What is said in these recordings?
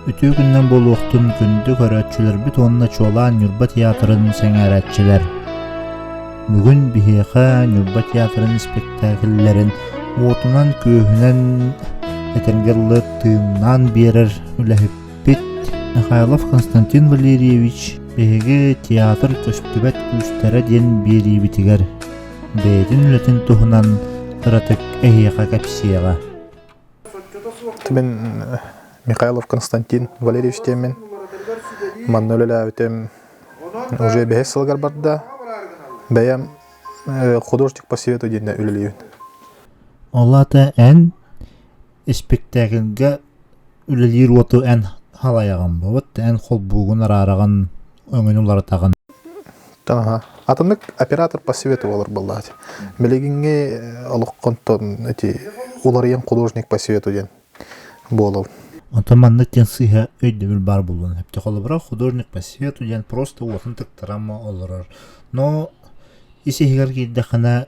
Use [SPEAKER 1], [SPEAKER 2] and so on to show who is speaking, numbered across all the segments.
[SPEAKER 1] Үтүө күннэр буолуохтун күндү көрөөччүлэрбит уонна чуолаан Ньурба театрын сэҥээрээччилэр. Бүгүн биһиэхэ Ньурба театрын испэктээкиллэрин уотунан-күөһүнэн этэргэ дылы тыыннаан биэрэр үлэһиппит Михайлов Константин Валерьевич биһиги театр көстүбэт күүстэрэ диэн биэриибитигэр бэйэтин үлэтин туһунан кыратык эһиэхэ кэпсиэҕэ.
[SPEAKER 2] Мен Михайлов Константин Валерьевич диэммин. Манна үлэлээбитим уже бэһис сылыгар барда. Бэйэм художник по совету диэннэ үлэлиибин. Ол
[SPEAKER 1] ата эн испиктээкилгэ үлэлиир уоту эн халайаҕын бобут эн холбуугун араараҕын өҥүн уларатаҕын Аха.
[SPEAKER 2] Атыннык оператор по свету олор баллаати. Билигинги э, олоххонтон эти уларыйан художник по свету диэн буолал. Онтон маннык
[SPEAKER 1] диэн сыыһа өйдөбүл баар булун. Хепте холобура художник по свету диэн просто уотун тыктарама олорор. Но ис иһигэр киирдэххинэ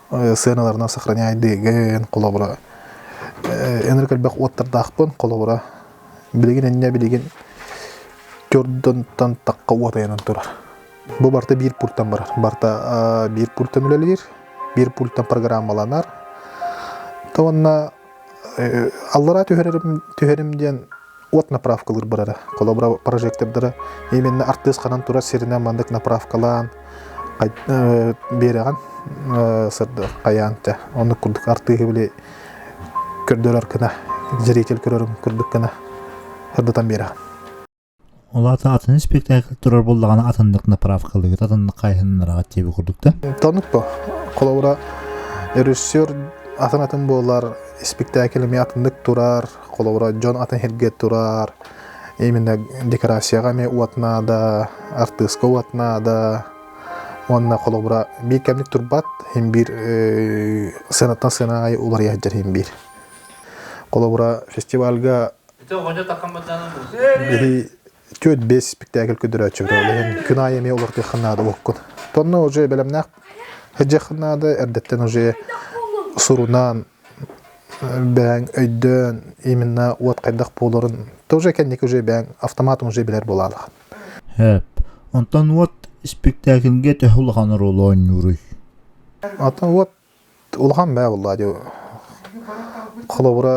[SPEAKER 2] сыаналарынан сохраняйдыгын холобура ынырык элбэх уоттардаахпын холобура билигин инньэ билигин төрдөнтөн такка уот айанан турар бу барыта биир пультан барар барыта биир пультан үлэлиир биир пультан программаланар то уонна аллараа түһэрэрим түһэрим диэн от направкалыыр барара холобура прожектордара именно артыыс ханан турар сиринэн маннык направкалаан биэрэҕин сырда хайаан тя оннук курдук артыыһы били көрдөрөр кына зритель көрөрүн курдук кына ырдытан биэрэҕин Ол
[SPEAKER 1] аата атын спектакль турар буоллаҕына атыннык направкалыыт, атыннык хайыһыннараҕыт диэби курдук да? Танып бу.
[SPEAKER 2] Холобура режиссер атын-атын буолар, спектакль эмиэ атыннык турар, холобура дьон атын сиргэ турар, именно декорацияҕа эмиэ уот наада, артыыска уот наада. Уонна холобура биир кэмник турбат, хин биир сыанаттан сыана аайы уларыйа сылдьар хин биир. Холобура фестивальга Ити оҕонньор такаммытынан Түөрт бес спектакль көдөрөөччүбүтэ ол иһин кынай эмиэ олортыаххын наада уоккун. Тонна уже эбэлэмнээх эдьэххын наада эрдэттэн уже сурунан бэҥ өйдөөн именно уот хайдах буоларын тоже кэнник уже бэҥ автоматым уже билэр буолаалах. Хэп.
[SPEAKER 1] Онтон уот спектакльге төһө улахан ролу оонньууруй? Ата
[SPEAKER 2] уот улахан баа буолла дьэ холобура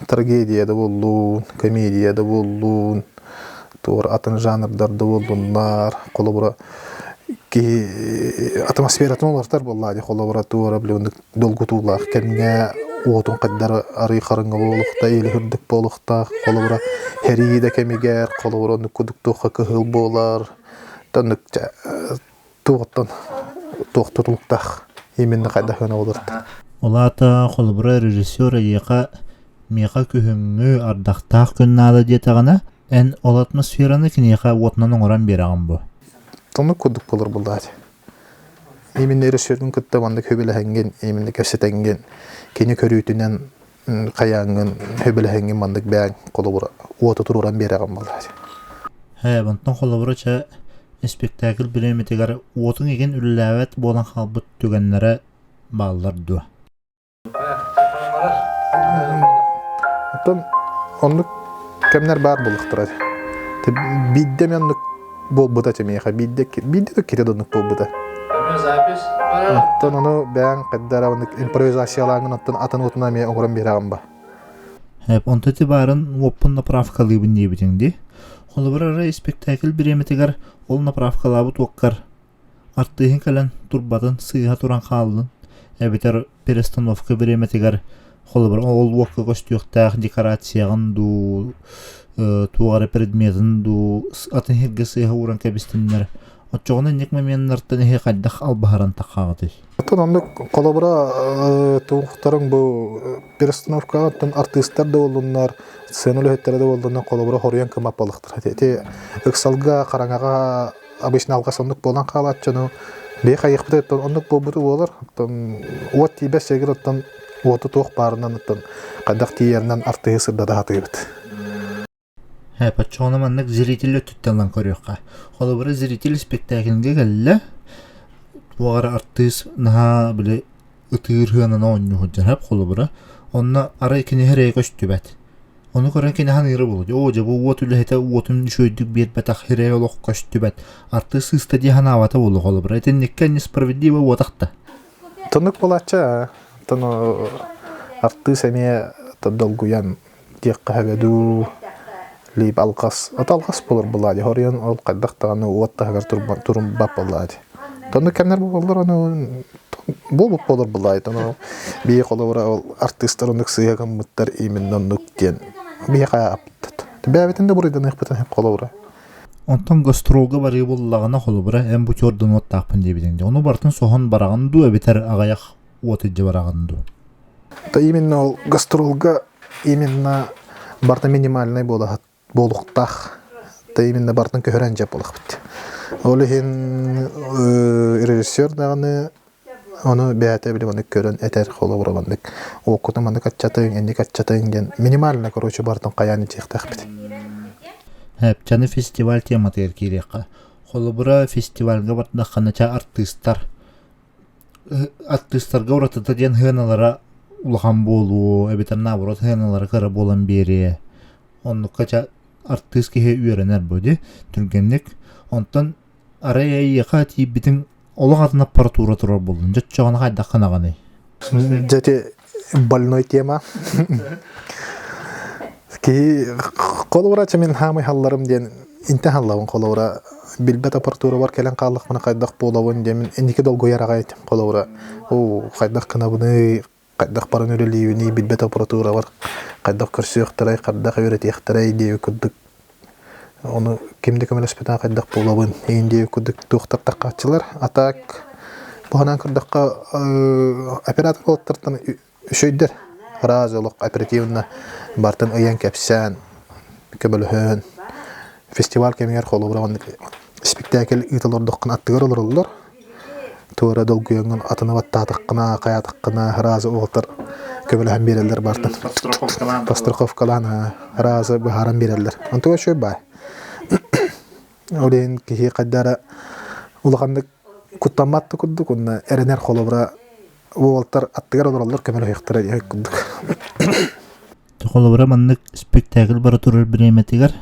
[SPEAKER 2] трагедия да буоллун комедия да буоллун туора атын жанрдар да буоллуннар холобура киһи атмосфератын уларытар буоллаа дии холобура туора блин долгутуулаах кэмҥэ уотун хайдары арый харыҥҥа буолуохта или үрдүк буолуохтаах холобура һэрии да кэмигэр холобура оннук кудук туохха кыһыл буолар тоннук туохтан туох тутулуктаах именно хайдах гына олорто Ол аата
[SPEAKER 1] холобура режиссер эйиэхэ миэхэ күһүҥҥү ардахтаах күн наада диэтэҕинэ эн ол атмосфераны киниэхэ уотунан оҥорон биэрэҕин бу Тонук курдук
[SPEAKER 2] болор буллаат. Именно режиссердун кытта маннык хөбүлэһэҥҥин, именно кэпсэтэҥҥин, кини көрүүтүнэн хайааҥҥын сөбүлэһиҥҥин маннык бэйэҥ холобура уоту туруоран биэрэҕин буолааччы ээ онтон
[SPEAKER 1] холобура чэ испиктээкил бириэмэтигэр уотуҥ игин үлэлээбэт буолан хаалбыт түгэннэрэ бааллар дуо
[SPEAKER 2] оттон оннук кэмнэр баар буоллахтара биирдэ мен оннук буолбута чэмиэхэ биирдэ биирдэ да кире донук буолбута оттон ону бэйэҥ хайдараабыннык импровизациялааҥын оттон атын уотуна эмиэ оҥорон биэрэҕин ба
[SPEAKER 1] онто ти баарын уоппун направкалыыбын диэбитиҥ дии холобур ара испэктээкил бириэмэтигэр ол направкалаабыт уоккар Артыыһын кэлэн турбатын сыыһа туран хааллын эбэтэр перестановка бириэмэтигэр холобур ол уокка көстүөхтээх декорацияҕын дуу туох эрэ предметин дуу атын иһиргэ сыыһа ууран кэбистиннэр оччоҕуна инник моменнартан иһи хайдах албаһаран таххаҕытый? Оттон
[SPEAKER 2] оннук холобура туохтарың бу перестановкаҕыттан артыыстар да буоллуннар сцена үлэһиттэрэ да буоллуннар холобура хоруйан кымаппалыхтар ити ыксалга хараҥаҕа обычно алгас оннук буолан хаалаат дьону бэйэ хайыахпытыттан оннук буолбуту буолар оттон уот тиийбэт сиргэр оттон уоту туох баарынан оттон хайдах тиийэринэн артыһы сырдата сатыыбыт Почему
[SPEAKER 1] маннык зритель өттүттэн көрүөххэ. Холобура, зритель спектакльга кэллэ. Туох артыыс наһаа били ытыыр сыананы оонньуу сылдьар холобура. Онно арай кини эрэ көстүбэт. Ону көрөн кини саныыра буолуо, «Оо, дьэ, бу уот үлэһитэ уотун үчүгэйдик биэрбэтэх эрэ олох көстүбэт, артыыс сыыста дии санаабата буолуо, холобура. Итинниккэ несправедливо уотах да». Туннук
[SPEAKER 2] буолааччы, артыыс эмиэ долгуйан диэххэ дуу, лип алҕас. От алҕас булар булаadi. Хорион ол хайдах даҕаны уот таһыгар турбан турумбат булаadi. Тону кэннэр буоллар ону буолбут буолар булаайт. Ону бии холобура ол артыыстар оннук сыыга гаммыттар именно оннук диэн биһиэхэ аптат. Бэбэтин да буруйданыахпытын хеп холобура. Онтон
[SPEAKER 1] гастролга барыы буллаҕына холобура эн бу чордунуоттаахпын диэбитиҥ. Ону бартын соһон бараҕын дуу эбэтэр аҕайах уот илдьэ бараҕын дуу? именно
[SPEAKER 2] ол гастролга именно барта минимальнай буолуохтаах да именно бартын көһөрөн жеп болахпыт ол иһин режиссер даҕаны ону бэйэтэ били маннык көрөн этэр холобура маннык оккутун маннык аччатыҥ энник аччатыҥ диэн минимально короче бартын хайаан итиэхтээхпит
[SPEAKER 1] Эпчаны фестиваль тематыгар киириэххэ холобура фестивальга бардаххына ча артыыстар артыыстарга уратыта диэн сыаналара улахан буолуо эбэтэр наоборот сыаналара кыра буолан биэриэ оннукка ча артыыс киһи үөрэнэр бу ди түргэнник онтон арай эйиэхэ тиийбитиҥ олох атын аппаратура турар буоллун дьэ оччоҕуна хайдах гынаҕыный дьэ ити
[SPEAKER 2] больной тема киһи холобура чэ мин хаамый халларым диэн инте халлабын холобура билбет апартуругар кэлэн хааллахпына хайдах буолабын диэн иники долгуйар аҕай этим холобура оо хайдах кынабыный хайдах баран үлэлиибиний билбет аппаратуравар хайдах көрсүөхтэрэй хайдах үөрэтиэхтэрэй диэби курдук Ону ким да көмөлөспүтэ хайдах буолабын инди кудук туохтартар хааччылар. А так быһанан көрдөххө операторлартан үчөйдөр раз олох оперативно бартын ыйан кэпсээн көбөлөһөн фестиваль кэмигэр холобура спектакль ыыталордоххун аттыгар олороллор Туора долгуйаҥҥын атыны баттаатаххына, хаайатаххына раза уолтар көмөлөһөн биэрэллэр баартан. Постраховкалаан раза быһааран биэрэллэр. Онтуга үчүгэй баай. Ол иһин киһи хайда эрэ улаханнык куттаммат да курдук уонна эрэнэр холобура уолтар аттыгар олороллор көмөлөһүөхтэрэ диэх курдук холобура
[SPEAKER 1] маннык спектакль бара турар бириэмэтигэр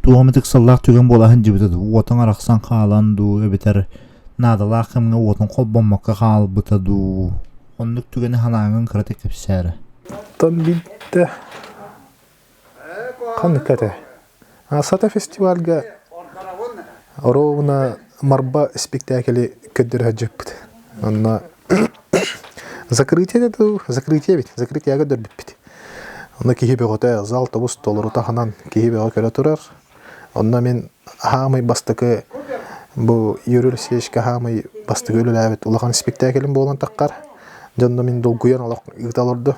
[SPEAKER 1] туох эмит ыксаллаах түгэн буолаһын дьибитэ уотуң арахсан хаалан дуу эбэтэр наадалаах кэмҥэ уотун холбоммокко хаалбыта дуу оннук түгэни халааҥҥын кыратык кэпсээрэ оттон
[SPEAKER 2] биттэ Ханнык этэ? Сата фестивальга оруобуна Марба испиктээкили көрдөрө сылдьыппыт. Онно закрытие дуу, закрытие эбит, закрытияга көрдөрбүппүт. Ону киһи бөҕөтө, зал тобус толору таһынан киһи бөҕө көрө турар. Онно мин хаамый бастакы бу Юрий Алексеевичка хаамый бастакы үлэлээбит улахан испиктээкилим буолан таххар, дьонно мин долгуйан олох ыыта олордо.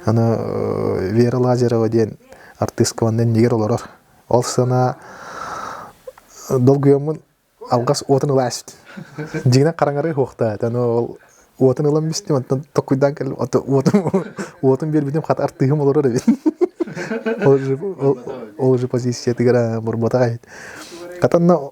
[SPEAKER 2] Аны Вера Лазарева диэн артыыска онно иннигэр олорор. Ол санаа долгуйаммын алгас уотун ылаа сүт. Дьиҥинэн хараҥарыы суохтаата. Аны ол уотун ылан бүстүм, оттон токкуйдаан кэллим, оттон уотум уотун биэрбитим, хата артыыһым олорор эбит. Ол же ол же позициятыгар мурматах эбит. Хата онно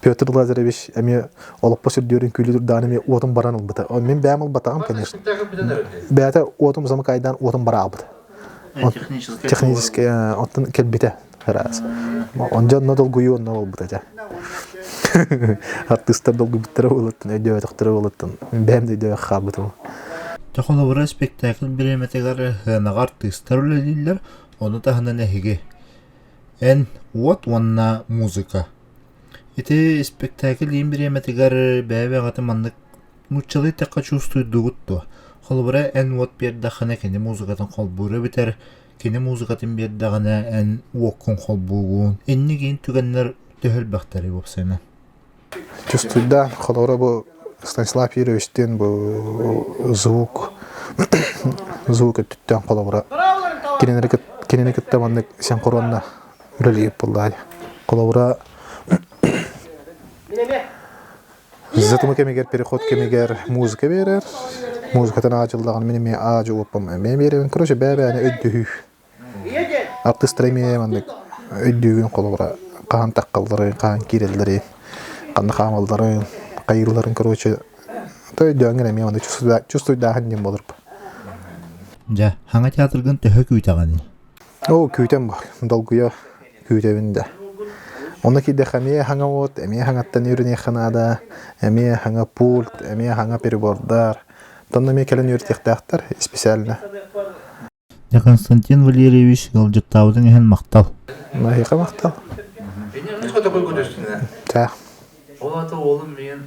[SPEAKER 2] Петр Лазаревич эмиэ олоппос үрдүөрүн күлүү даҕаны эмиэ уотум баран ылбыта. Мин бэйэм ылбатаҕым, конечно. Бэйэтэ уотум замыкайдаан уотум бара аҕалбыта. Техническэй оттон кэлбитэ араас. Онже онно долгуйуу онно буолбута этэ. Артыыстар долгуйбуттара буолуоттан, өйдөөтөхтөрө буолуоттан бэйэм да өйдөөх хаалбытым. Дьэ холобура
[SPEAKER 1] спектакль бириэмэтигэр сыанаҕа артыыстар үлэлииллэр, ону таһынан эһиги Эн уот уонна музыка. Ити испэктээкил иин бириэмэтигэр бэйэ-бэйэҕитин маннык нууччалыы эттэххэ чувствуйдугут дуо? Холобура, эн уот биэрдэххинэ, кини музыкатын холбуура бүтэр, кини музыкатын биэрдэҕинэ, эн уоккун холбуугун. Инник иин түгэннэр төһө элбэхтэрий уопсайынан? Чувствуйда,
[SPEAKER 2] холобура бу Станислав Юрьевич диэн бу звук звук өттүттэн холобура кинини кинини кытта маннык сен хоруонна үлэлиир буллаай холобура затымы кэмигэр переход кэмигэр музыка берер музыкатын аадьыллаҕын мин эмиэ аадьы уоппам эмиэ беребин короче бэбээни өйдөһүү Артыыстара эмиэ маннык өйдүүгүн холобура хаһан таххалларын, хаһан киирэллэрин, ханна хаамалларын, хайыылларын короче өйдөөҥҥүн эмиэ маннык чувствуйдааһын диэн буолар.
[SPEAKER 1] Дьэ, Хаҥа театргын төһө күүтэҕиний? Оо, күүтэн
[SPEAKER 2] баар. Долгуйа күүтэбин да. Онно киирдэххэ эмиэ хаҥа уот, эмиэ хаҥаттан үөрэниэххэ наада, эмиэ хаҥа пульт, эмиэ хаҥа перебордар. Тонна эмиэ кэлэн үөрэтиэхтээхтэр исписээлинэ.
[SPEAKER 1] Константин Валерьевич ыалдьыттаабытын иһин махтал. Маһыйка махтал.
[SPEAKER 3] Таах.
[SPEAKER 2] Ол аты
[SPEAKER 3] уолум миэн